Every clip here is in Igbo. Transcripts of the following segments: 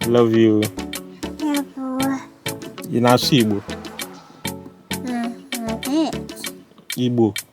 I love you. Ị na-asụ Igbo? Igbo.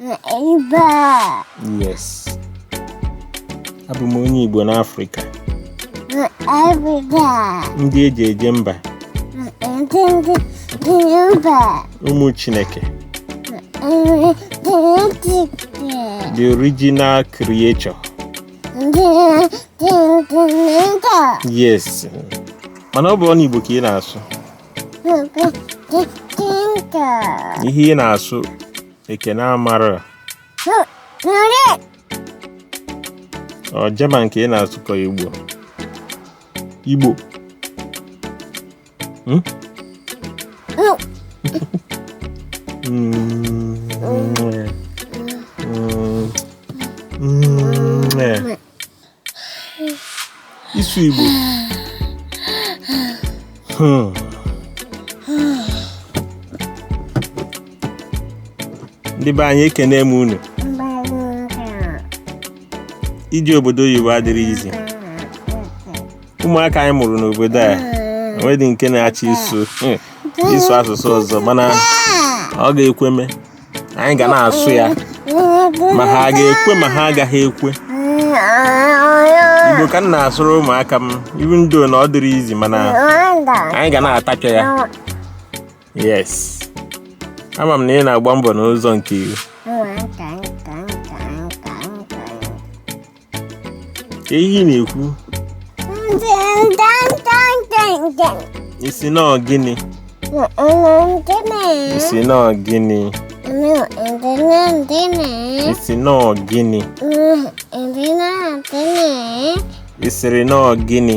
Igbo. Yes. Abụ m onye Igbo n'Afrịka. Africa. Ndị eji eje mba. Ndị eji eje mba. Ụmụ Chineke. The original creator. Yes. Mana ọ bụrọ nụ Igbo ka ị na-asụ. ihe ị na-asụ ekene amara ọ German nke ị na-asụkọ igbo igbo hmm? ịsụ igbo hmm. ndị be anyị ekene m unu ije obodo oyibo adịrọ easy ụmụaka anyị mụrụ n'obodo a enweghị nke na-achọ ịsụ hmm, ịsụ asụsụ ọzọ mana ọ ga-ekweme anyị ga na-asụ ya ma ha ga-ekwe ma ha agaghị ekwe igbo ka m na-asụrụ ụmụaka m even though na ọ dịrọ easy mana anyị ga na-atapịa ya yes ama m na ị na-agba mbọ n'ụzọ nke iwu ka ihe ị na-ekwu ị sị na gịnị ị sị na gịnị ị sị na gịnị ị sịrị na gịnị